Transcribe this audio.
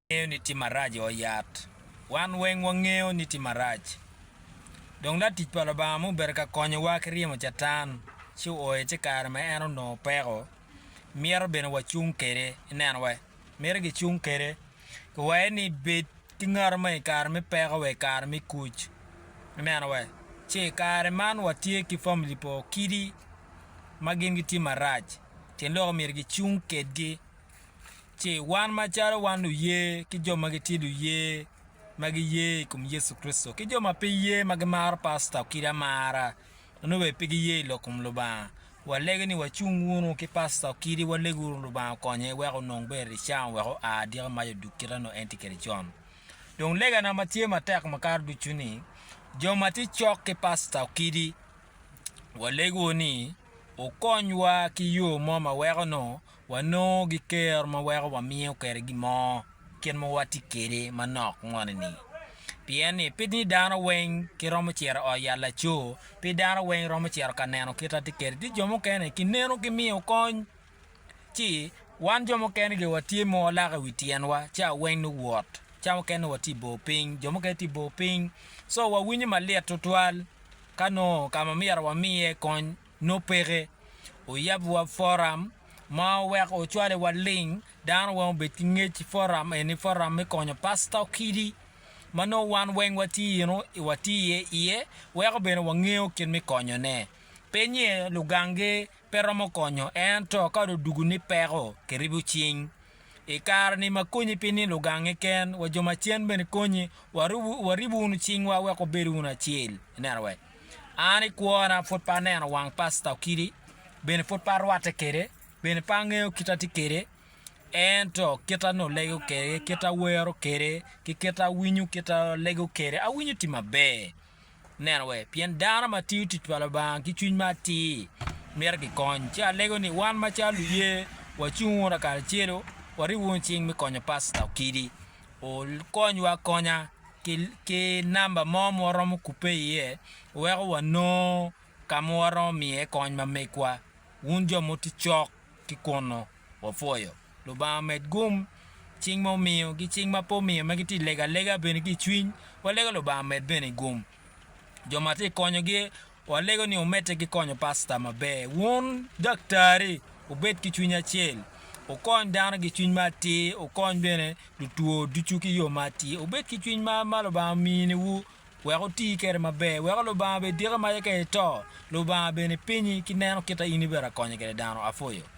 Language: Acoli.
Wangeyo ni tim marac oyat. Wan weng wangeyo ni tim marac. Dong latic pa Lubanga ma obedo ka konyowa ki ryemo Catan ci ooye ci kare ma en onongo peko, mito bene wacung kede. Ineno wa? Mito gicung kede. Kiwaye ni bed ki ngato ma i kare me peko wa i kare me kuc. Ineno wa? Ci i kare man watye ki famili pa okidi ma gin gitye marac. Tyen lok omyero gicung kedgi ci wan macalo wan luye ki jo ma gitye luye ma giye i kom Yecu Kricito ki jo ma pe ye ma gimaro pasta okidi amara nongo bene pe giye i lok kom Lubanga, walege ni wacung wunu ki pasta okidi walegu wunu Lubanga okonye wek onong ber i cawa wek oa adyaka mac odug kite nongo en tye kwede con. Dong legana ma tye matek makato ducu ni jo ma tye cok ki pasta okidi walegu ni okonywa ki yo mo ma weko nongo Wanongo gikero ma weko wamiyo kwede gin mo kit ma watye kwede manok moni-ni. Pien ni pe ni dano weng giromo cito i ot yat laco, pe dano weng romo cito ka neno kit atye kwede. Tye jo mukene kineno ki miyo kony, ci wan jo mukene gire watye ma walako i wi tyenwa ci aweng nongo wot. Ca mukene nongo watye i bor piny, jo mukene tye i bor piny, so wawinyo malit tutwal ka nongo ka ma myero wamiye kony nongo peke. Oyab wa forum ma oweko ocwale wa ling dano weng obed ki ngec i forum eni forum me konyo pasta okidi ma nongo wan weng wa tye ino wa tye iye iye weko bene wa ngeyo kit me konyo ne pe nye lugang gi pe romo konyo en to ka do dugu ni peko ki ribo cing i kare ni ma konyi pe ni lugang gi ken wa jo macen bene konyi wa ribo wunu cing wa weko bedo wunu acel ineno wek An i kwona pud pe aneno wang Pasta Okidi, bene pud pe arwatte kwede, bene pe angeyo kite atye kwede. Ento kite an dong alego kwede, kite an awero kwede, ki kite an awinyo, kite an alego kwede, awinyo tye maber. Ineno wee? Pien dano ma tiyo tic pa Lubanga ki cwiny ma atir mito kikony. Ci alego ni wan macalo luye wacung wunu lakaracelo, wariw wunu cing me konyo Pasta Okidi. okonywa akonya ki namba mo ma waromo kubbe iye weko wanongo ka ma waromo miye kony ma megwa. Wun jo ma wutye cok ki kunnu, wapwoyo. Lubanga omed gum. Cing ma omiyo ki cing ma pe omiyo ma gitye ka lego alega bene ki i cwiny, walego Lubanga omed bene gum. jo ma tye ka konyogi, walego ni omedde ki konyo pasta maber. Wun daktari, wubed ki cwiny acel, wukony dano ki cwiny ma atir, wukony bene lutwo ducu ki yo ma atir. Wubed ki cwiny ma ma Lubanga ominiwu, wek wuti kwede maber, weko Lubanga bene ediki maca ka ito, Lubanga bene pinyi ki neno kit ma in ibedo ka konyo kwede dano. Apwoyo.